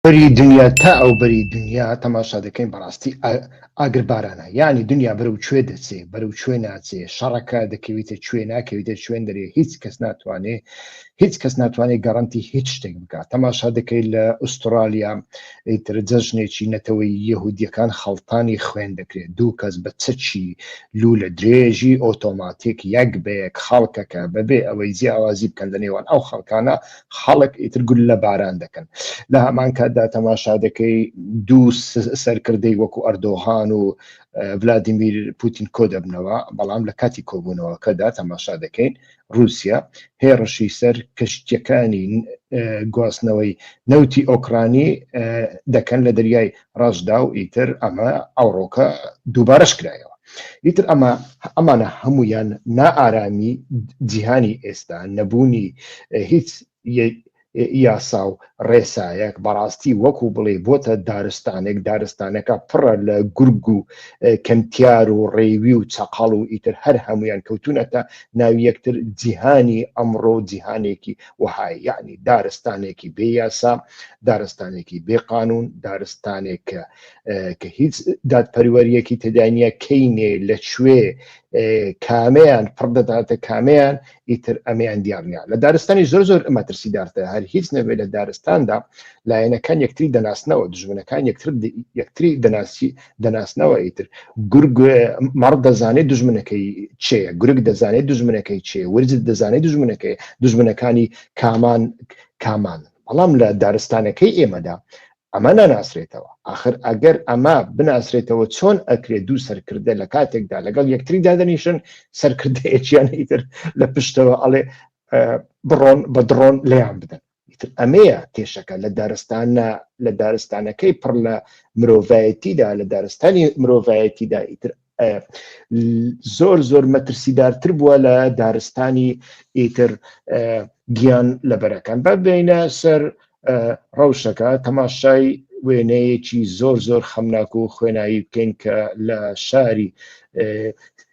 بەری دنیا تا ئەو بەری دنیا تەماشا دەکەین بەڕاستی ئاگر بارانە یعنی دنیا بەرەو کوێ دەچێ بەرەو کوێ ناچێ شەڕەکە دەکەویتە کوێ ناکەویتە شوێن دەرێ هیچ کەس ناتوانێ هیچ کەس ناتوانێت گەڕنتی هیچ شتێک بکات تەماشا دەکەیت لە ئوسترالیا ئیتر جەژنێکی نەتەوەی یهودیەکان خەڵتانی خوێن دەکرێت دوو کەس بە چەچی لو لە درێژی ئۆتۆماتیک یەک بەیەک خەڵکەکە بەبێ ئەوەی جیاوازی بکەن لە نێوان ئەو خەڵکانە خەڵک ئیتر گول لە باران دەکەن لە هەمان کاتدا تەماشا دەکەی دوو سەرکردەی وەکو ئەردۆغان و ولادیمیر پوتین کۆ دەبنەوە بەڵام لە کاتی کۆبوونەوەکەدا تەماشا دەکەین رووسیا هێڕشی سەر کەشتەکانی گواستنەوەی نەوتی ئۆکرانی دەکەن لە دەریای ڕەشدا و ئیتر ئەمە ئەوڕۆکە دووبارەش کرایەوە ئیتر ئەمە ئەمانە هەمویان نائارامی جیهانی ئێستا نەبوونی هیچ یاسا و ڕێسایەک بەڕاستی وەکو بڵێ بۆتە دارستانێک دارستانەکە پڕە لە گورگ و کەمتیار و ڕێوی و چەقاڵ و ئیتر هەر هەمویان کەوتونەتە ناوی یەکتر جیهانی ئەمڕۆ جیهانێکی وەهایە یعنی دارستانێکی بێ یاسا دارستانێکی بێ قانون دارستانێک کە کە هیچ دادپەروەریەکی تدانە کەینێ لە کوێ کامەیان پڕدەداتە کامەیان ئیتر ئەمیان دیارنیا لە دارستانی زۆر زۆر ئەمە ترسی دارتە هەر هیچ نەبێت لە دارستاندا لایەنەکان یەکتری دەناسنەوە دژمنەکان یەکتر یەکتری دەناسی دەناسنەوە ئیتر گورگ مەڕ دەزانێت دژمنەکەی چێە گورگ دەزانێت دژمنەکەی چێ ورج دەزانێت دژمنەکەی دژمنەکانی کامان کامان بەڵام لە دارستانەکەی ئێمەدا ئەمە ناناسرێتەوە آخر ئەگەر ئەمە بناسرێتەوە چۆن ئەکرێت دوو سەرکردە لە کاتێکدا لەگەڵ یەکتری دادەنیشن سەرکردەیەکیان ئیتر لە پشتەوە ئەڵێ بڕۆن بە دڕۆن لیان بدەن ئیتر ئەمەیە کێشەکە لە دارستانە لە دارستانەکەی پڕ لە مرۆڤایەتیدا لە دارستانی مرۆڤایەتیدا ئیتر زۆر زۆر مەترسیدارتر بووە لە دارستانی ئیتر گیان لە بەرەکان بە بینە سەر ڕەوشەکە تەماشای وێنەیەکی زۆر زۆر خەمناک و خوێنایی بکەین کە لە شاری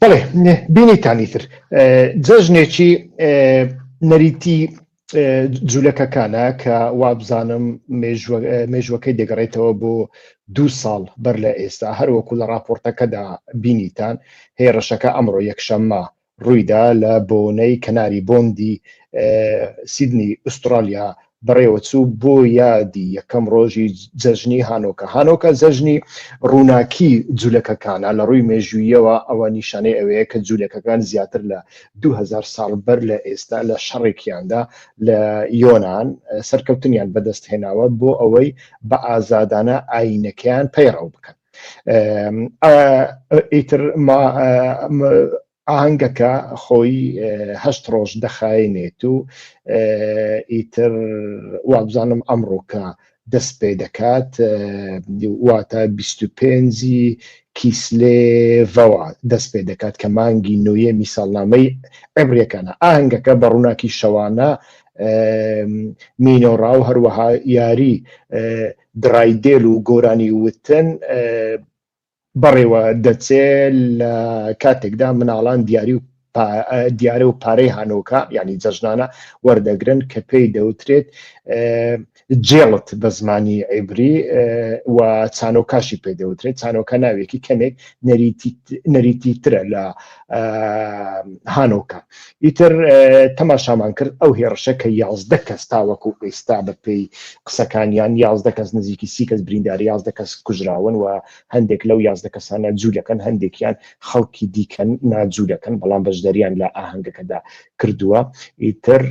بەڵێ بینیتان ئیتر جەژنێکی نەریتی جولەکەکانە کە وابزانم مێژوەکەی دەگەڕێتەوە بۆ دو ساڵ بەر لە ئێستا هەروەکو لە راپۆرتەکەدا بینیتان هێڕشەکە ئەمڕۆ یەکشەممە ڕوویدا لە بۆنەی کەناری بۆندی سیدنی ئوسترالیا بەڕێوەچوو بۆ یادی یەکەم ڕۆژی جەژنی هانۆکە هانۆکە جەژنی ڕووناکی جوولەکەکانە لە ڕووی مێژوویەوە ئەوە نیشانەی ئەوەیە کە جوولەکەکان زیاتر لە 2000 ساڵ بەر لە ئێستا لە شەڕێکیاندا لە یۆناان سەرکەوتنیان بەدەست هێناوە بۆ ئەوەی بە ئازادانە ئاینەکەیان پەیڕەو بکەن ئیتر ئاهەنگەکە خۆی هەشت ڕۆژ دەخایێنێت و ئیتر وابزانم ئەمڕۆکە دەست پێ دەکات واتە 25ی کیسلێڤەوە دەست پێ دەکات کە مانگی نوێمی ساڵنامەی عبرەکانە ئاهنگەکە بە ڕووناکی شەوانە مینۆڕا و هەروەها یاری درایدێل و گۆرانی وتن بەڕێوە دەچێ لە کاتێکدا مناڵان دیاری و دیارە و پارەی هانۆکە ینی جەژنانە وەردەگرن کە پێی دەوترێت جێڵت بە زمانی عیبری و چانۆکاشی پێ دەوترێت چانۆکە ناوێکی کەمێک نەریتی ترە لە هانۆکە ئیتر تەماشامان کرد ئەو هێڕشە کە یازدە کەس تاوەکو ئێستا بە پێی قسەکانیان یازدە کەس نزیکی سی کەس برینداری یازدە کەس کوژراون و هەندێک لەو یازدە کەسانە جوولەکەن هەندێکیان خەڵکی دیکەن ناجوولەکەن بەڵام بەشداریان لە ئاهەنگەکەدا کردووە ئیتر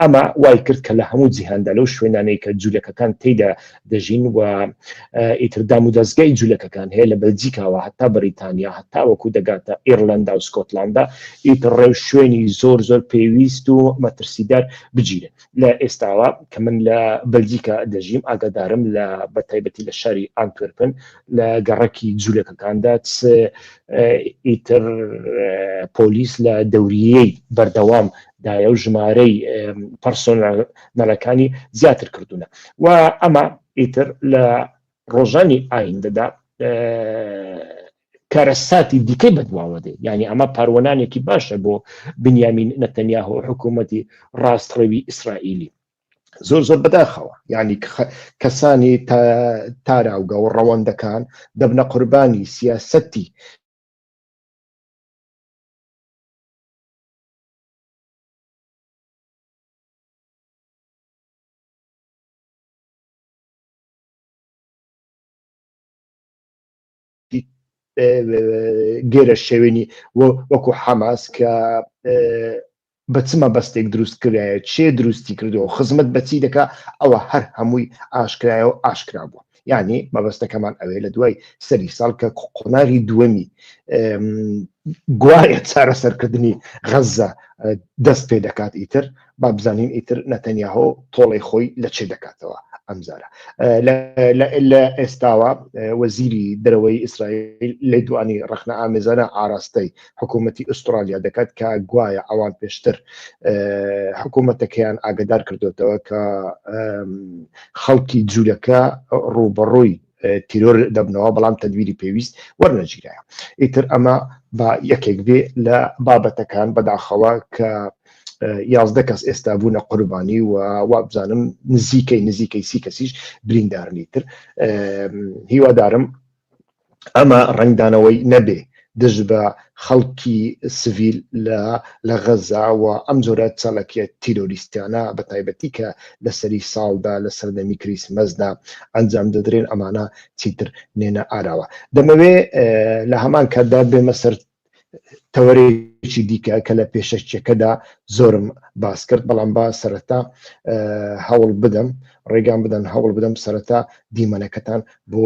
ئەمە وای کرد کە لە هەموو جیهاندا لەو شوێنانەی کە جوولەکەکان تێدا دەژین و ئیتر دام و دەستگای جوولەکەکان هەیە لە بەلجیکاوە هەتا بەریتانیا هەتا وەکو دەگاتە ئێرلندا و سکۆتلاندا ئیتر ڕێو شوێنی زۆر زۆر پێویست و مەترسیدار بگیرن لە ئێستاوە کە من لە بەلجیکا دەژیم ئاگادارم لە بەتایبەتی لە شاری ئانتۆرپن لە گەڕەکی جوولەکەکاندا ئیتر پۆلیس لە دەوریەی بەردەوام دایە و ژمارەی پەرسۆنەلەکانی زیاتر کردوونە و ئەمە ئیتر لە ڕۆژانی ئایندەدا کارەساتی دیکەی بەدواوە دێ ینی ئەمە پاروەنانێکی باشە بۆ بنیامین نەتەنیا و حکوومەتی ڕاستڕەوی ئیسرائیلی زۆر زۆر بەداخەوە ینی کەسانی تاراوگە و ڕەوەندەکان دەبنە قوربانی سیاسەتی گێرە شێوێنی وەکو حەماس کە بە چمە بەستێک دروست کرایە چێ دروستی کردەوە خزمەت بەچی دەکا ئەوە هەر هەمووی ئاشکرایەوە ئاشکرا بووە یعنی مەبەستەکەمان ئەوێ لە دوای سەری ساڵ کە قۆناغی دووەمی گوایە چارە سەرکردنی غەزە دەست پێ دەکات ئیتر با بزانین ئیتر نەتەنیاهۆ تۆڵی خۆی لە چێ دەکاتەوە ئەمزارە لە ئێستاوە وەزیری دەرەوەی ئیسرائیل لە دوانی ڕخنە ئامێزانە ئاراستەی حکوومەتتی ئوسترالیا دەکات کە گوایە ئەوان پێشتر حکوومەتەکەیان ئاگدار کردوێتەوە کە خەڵکی جوولەکە ڕووبەڕووی تیرۆر دەبنەوە بەڵام تەدویری پێویست وەرنەگیرایە ئیتر ئەمە با یەکێک بێ لە بابەتەکان بەداخەوە کە یازدە کەس ئێستا بوونە قوربانی و وابزانم نزیکەی نزیکەی سی کەسیش بریندارنی تر هیوادارم ئەمە ڕەنگدانەوەی نەبێ دژ بە خەڵکی سڤیل لە غەززە و ئەم جۆرە چالاکییە تیرۆریستیانە بە تایبەتی کە لە سەری ساڵدا لە سەردەمی کریسمەسدا ئەنجام دەدرێن ئەمانە چیتر نێنە ئاراوە. دەمەوێ لە هەمان کاتدا بێمە سەر تەوەرێکی دیکە کە لە پێشەکیەکەدا زۆرم باس کرد بەڵام با سەرەتا هەوڵ بدەم ڕێگان بدەن هەوڵ بدەم سەرەتا دیمەنەکەتان بۆ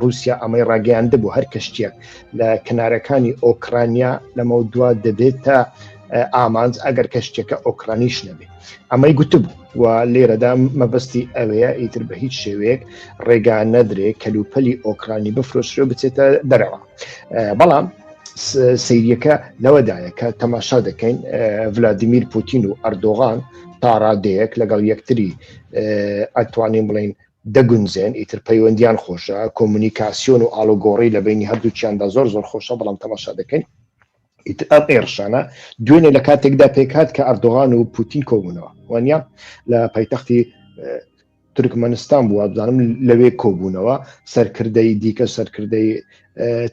ڕووسیا ئەمەی ڕاگەیاندبوو هەر کەشتیەک لە کەنارەکانی ئۆکرانیا لەمە دوا دەبێتە ئامانج ئەگەر کەشتێکە ئۆکرانیش نەبێت ئەمەی گوتبوو و لێرەدا مەبەستی ئەوەیە ئیتر بە هیچ شێوەیەک ڕێگا نەدرێ کەلوپەلی ئۆکرانی بفرۆشرێ بچێتە دەرەوە بەڵام سیریەکە لەوەدایە کە تەماشا دەکەین ڤلادیمیر پوتین و ئەردۆغان تاڕادەیەک لەگەڵ یەکتری ئەتوانین بڵین دەگونجێن ئیتر پەیوەندیان خۆشە کۆمونیکاسیۆن و ئاڵوگۆڕی لە بەینی هەردووکیاندا زۆر زۆر خۆشە بەڵام تەماشا دەکەین ئیتر ئەم ئێرشانە دوێنێ لە کاتێکدا پێکات کە ئەردۆغان و پوتین کۆبوونەوە وانە لە پایتەختی تورکمەنستان بووە بزانم لەوێ کۆبوونەوە سەرکردەی دیکە سەرکردەی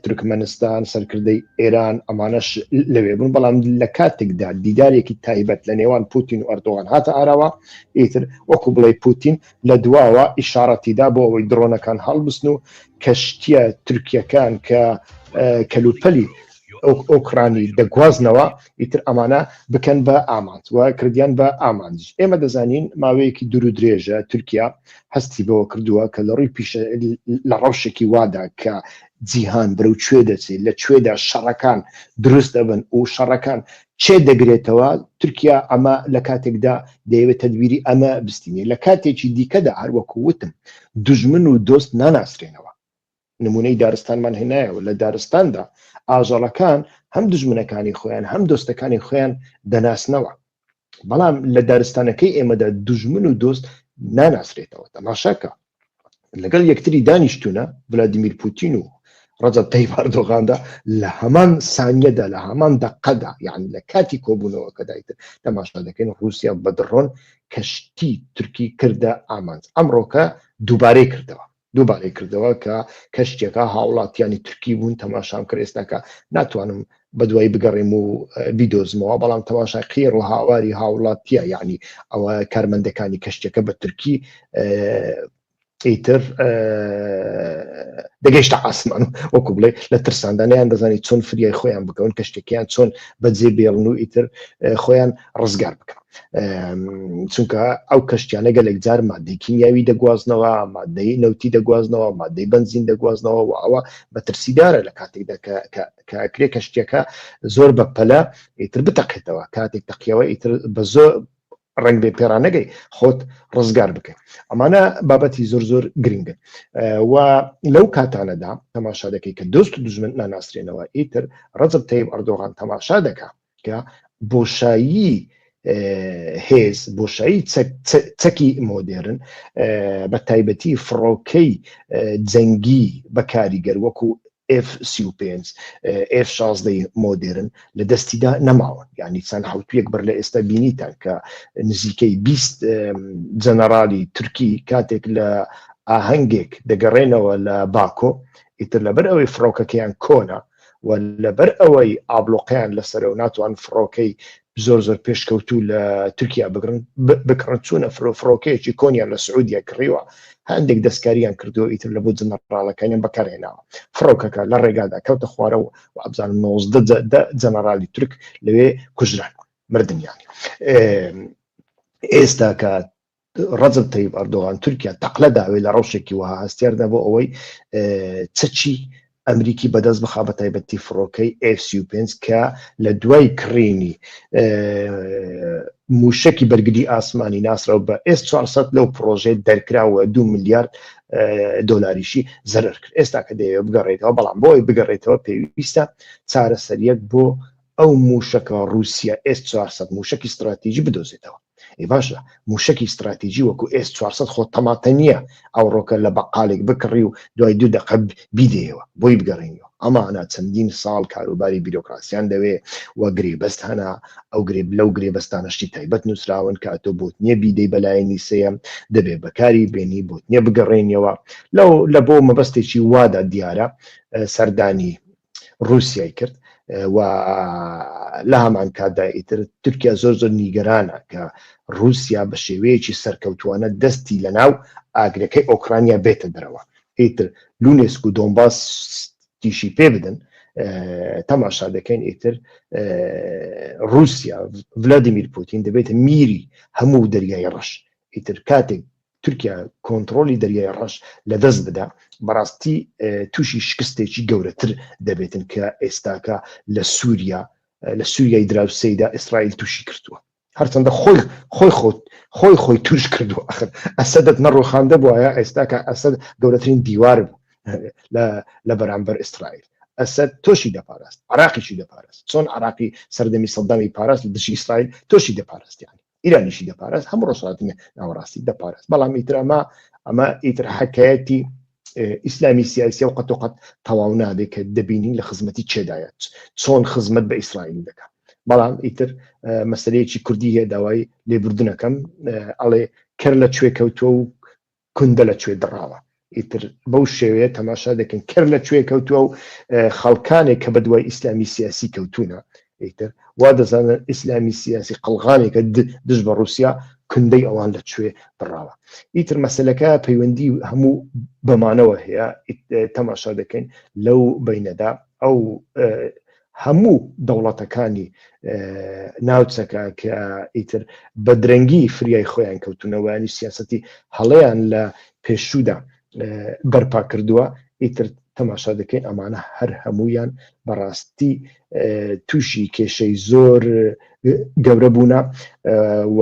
تورکمەنستان سەرکردەی ئێران ئەمانەش لەوێ بوون بەڵام لە کاتێکدا دیدارێکی تایبەت لە نێوان پوتین و ئەردۆغان هاتە ئاراوە ئیتر وەکو بڵێ پوتین لە دواوە ئیشاڕەتی دا بۆ ئەوەی دڕۆنەکان هەڵبستن و کەشتیە تورکیەکان کە کەلوپەلی ئۆکرانی دەگوازنەوە ئیتر ئەمانە بکەن بە ئامانج و کردیان بە ئامانج ئێمە دەزانین ماوەیەکی دوور و درێژە تورکیا هەستی بەوە کردووە کە لە ڕووی پیشە لە ڕەوشێکی وادا کە جیهان برو کوێ دەچێت لە کوێدا شەڕەکان دروست دەبن و شەڕەکان چێ دەگرێتەوە، تورکیا ئەمە لە کاتێکدا دەیەوێت تەدبیری ئەمە بستینێ، لە کاتێکی دیکەدا هەر وەکو وتم دوژمن و دۆست ناناسرێنەوە، نموونەی دارستانمان هێنایەوە، لە دارستاندا ئاژەڵەکان هەم دوژمنەکانی خۆیان هەم دۆستەکانی خۆیان دەناسنەوە، بەڵام لە دارستانەکەی ئێمەدا دوژمن و دۆست ناناسرێتەوە، تەماشا کە. لەگەڵ یەکتری دانیشتونە ولادیمیر پوتین و ڕەجەب تەیب ئەردۆغاندا لە هەمان سانیەدا لە هەمان دەقەدا یعنی لە کاتی کۆبوونەوەکەدا ئیتر تەماشا دەکەین رووسیا بە دڕۆن کەشتی تورکی کردە ئامانج ئەمڕۆکە دووبارەی کردەوە دووبارەی کردەوە کە کەشتێکە هاوڵاتیانی تورکی بوون تەماشام کرد ئێستاکە ناتوانم بەدوای بگەڕێم و بیدۆزمەوە بەڵام تەماشای قێڕ و هاواری هاوڵاتیە یعنی ئەوە کارمەندەکانی کەشتەکە بە تورکی ئیتر دەگەیشتە ئاسمان وەکو بڵێ لە ترساندانیان دەزانی چۆن فریای خۆیان بکەون کە شتێکیان چۆن بەجێ بێڵن و ئیتر خۆیان ڕزگار بکەن چونکە ئەو کەشتیانە گەلێک جار مادەی کیمیاوی دەگوازنەوە مادەی نەوتی دەگوازنەوە مادەی بنزین دەگوازنەوە و ئەوە بەترسیدارە لە کاتێکدا کە کە ئەکرێ کەشتیەکە زۆر بە پەلە ئیتر بتەقێتەوە کاتێک تەقیەوە ئیتر بە زۆر ڕنگ بێ پێرانەگەی خۆت ڕزگار بکەن ئەمانە بابەتی زۆر زۆر گرنگن و لەو کاتانەدا تەماشا دەکەی کە دۆست و دژمن ناناسرێنەوە ئیتر ڕزب تەیب ئەردۆغان تەماشا دەکە کە بۆشایی هێز بۆشایی چەکی مۆدێرن بە تایبەتی فڕۆکەی جەنگی بە کاریگەر وەکو F35 F16 مۆدرن لە دەستیدا نەماون ینی چەند حوتویەک بەر لە ئێستا بینیتان کە نزیکەی 20 جەنەرالی تورکی کاتێک لە ئاهەنگێک دەگەڕێنەوە لە باکۆ ئیتر لەبەر ئەوەی فڕۆکەکەیان کۆنا و لەبەر ئەوەی ئابلۆقیان لەسەر و ناتوان فڕۆکەی زۆر زۆر پێشکەوتوو لە تورکیا بگرن بکڕن چوونە فرۆ فڕۆکەیەکی کۆنیان لە سعودیە کڕیوە هەندێک دەستکاریان کردو ئیتر لە بۆ جنەڕالەکانیان بەکارهێناوە فڕۆکەکە لە ڕێگادا کەوتە خوارەوە و ئەبزان 19 جەنەرالی تورک لەوێ کوژران مردیان ئێستا کە ڕەجەب تەیب ئەردۆغان تورکیا تەقلە داوێ لە ڕەوشێکی وەها هەستیاردا بۆ ئەوەی چەکی ئەمریکی بەدەست بخا بە تایبەتی فڕۆکەی F35 کە لە دوای کڕینی موشکی بەرگری ئاسمانی ناسراو بە S400 لەو پرۆژێ دەرکراوە دو میلیارد دلاریشی زەرر کرد ئێستا کە دەیەوە بگەڕێتەوە بەڵام بۆی بگەڕێتەوە پێویستە چارەسەریەک بۆ ئەو موشەکە ڕوسیە ئێس چوار سەد موشەکی ستراتیجی بدۆزێتەوە ئەی باشە موشەکی ستراتیجی وەکو ئێس چوار سەد خۆ تەماتە نییە ئەوڕۆکە لە بەقالێک بکڕی و دوای دوو دەقە بیدەیەوە بۆی بگەڕێنیەوە ئەمانە چەندین ساڵ کاروباری بیرۆکراسیان دەوێ و گرێبەست هەنا ئەو گرێب لەو گرێبەستانە شتی تایبەت نووسراون کە ئەتۆ بۆت نییە بیدەی بەلایەنی سێیەم دەبێ بەکاری بێنی بۆت نییە بگەڕێنیەوە لەو لە بۆ مەبەستێکی وادا دیارە سەردانی ڕوسیای کرد و لە هەمان کاتدا ئیتر تورکیا زۆر زۆر نیگەرانە کە رووسیا بە شێوەیەکی سەرکەوتوانە دەستی لە ناو ئاگرەکەی ئۆکرانیا بێتە دەرەوە ئیتر لونێسک و دۆمباس تیشی پێ بدەن تەماشا دەکەین ئیتر رووسیا ولادیمیر پوتین دەبێتە میری هەموو دەریای ڕەش ئیتر کاتێک تورکیا کۆنتڕۆلی دەریای ڕەش لە دەست بدا بەڕاستی تووشی شکستێکی گەورەتر دەبێتن کە ئێستاکە لە سووریا لە سووریای دراوسیدا ئیسرائیل تووشی کردووە هەرچەندە خۆی خۆی خۆت خۆی خۆی توش کردو ئەخر ئەسەدت نەڕۆخاندە بواە ئێستاکە ئەسەد گەورەترین دیوار بوو لە بەرامبەر ئیسرائیل ئەسەد تۆشی دەپاراست عراقیشی دەپارست چۆن عراقی سەردەمی سەدامی پاراست دژی ئیسرائیل تۆشی دەپارستیانی ئیرانیشی دەپارێز هەموو ڕۆژهاتی ناوەڕاستی دەپارێز بەڵام ئیتر ئەمە ئەمە ئیتر حکایەتی ئیسلامی سیاسی و قەتوقەت تەواو نابێت کە دەبینین لە خزمەتی چێدایەت چۆن خزمەت بە ئیسرائیل دەکات بەڵام ئیتر مەسلەیەکی کوردی هەیە داوای لێبوردنەکەم ئەڵێ کەر لە کوێ کەوتووە و کوندە لە کوێ دڕاوە ئیتر بەو شێوەیە تەماشا دەکەین کەر لە کوێ کەوتووە و خەڵکانێک کە بە دوای ئیسلامی سیاسی کەوتونە ئیتر وا دەزانن ئیسلامی سیاسی قەلغانێکە دژ بە رووسیا کوندەی ئەوان لە کوێ دڕاوە ئیتر مەسلەکە پەیوەندی هەموو بەمانەوە هەیە تەماشا دەکەین لەو بینەدا ئەو هەموو دەوڵەتەکانی ناوچەکە کە ئیتر بە درەنگی فریای خۆیان کەوتونەوەیانی سیاستی هەڵەیان لە پێشوودا بەرپا کردووە ئیتر تەماشا دەکەین ئەمانە هەر هەمویان بەڕاستی تووشی کێشەی زۆر گەورە بوونە و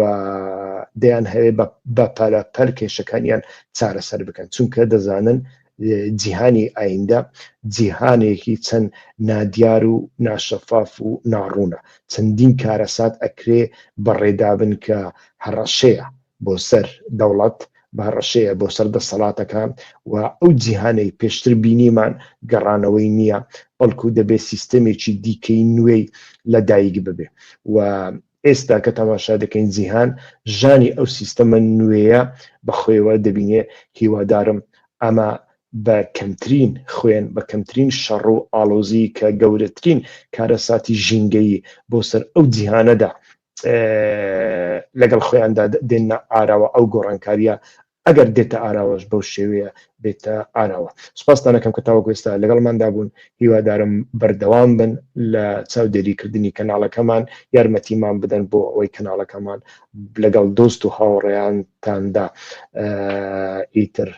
دەیان هەیە بە پەلەپەل کێشەکانیان چارەسەر بکەن چونکە دەزانن جیهانی ئایندە جیهانێکی چەند نادیار و ناشەفاف و ناڕوونە، چەندین کارەسات ئەکرێ بەڕێدابن کە هەڕەشەیە بۆ سەر دەوڵەت، هەڕەشەیە بۆ سەر دەسەڵاتەکان و ئەو جیهانەی پێشتر بینیمان گەڕانەوەی نییە، بەڵکو دەبێ سیستەمێکی دیکەی نوێی لەدایک ببێ و ئێستا کە تەماشا دەکەین جیهان ژانی ئەو سیستەمە نوێیە بە خۆیەوە دەبینێ، هیوادارم ئەمە بە کەمترین خوێن، بە کەمترین شەڕ و ئاڵۆزی کە گەورەترین کارەساتی ژینگەیی بۆ سەر ئەو جیهانەدا لەگەڵ خۆیاندا دێننە ئاراوە ئەو گۆڕانکارییە ئەگەر دێتە ئاراوەش بەو شێوەیە بێتە ئاراوە. سوپاستان ئەکەم کە تاوەکو ئێستا لەگەڵماندا بوون، هیوادارم بەردەوام بن لە چاودێریکردنی کەناڵەکەمان، یارمەتیمان بدەن بۆ ئەوەی کەناڵەکەمان لەگەڵ دۆست و هاوڕێیانتاندا ئیتر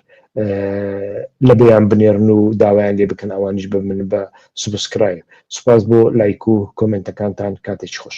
لەبیان بنێرن و داوایان لێ بکەن ئەوانیش ببن بە سوبسکرایب. سوپاس بۆ لایک و کۆمێنتەکانتان، کاتێکی خۆش.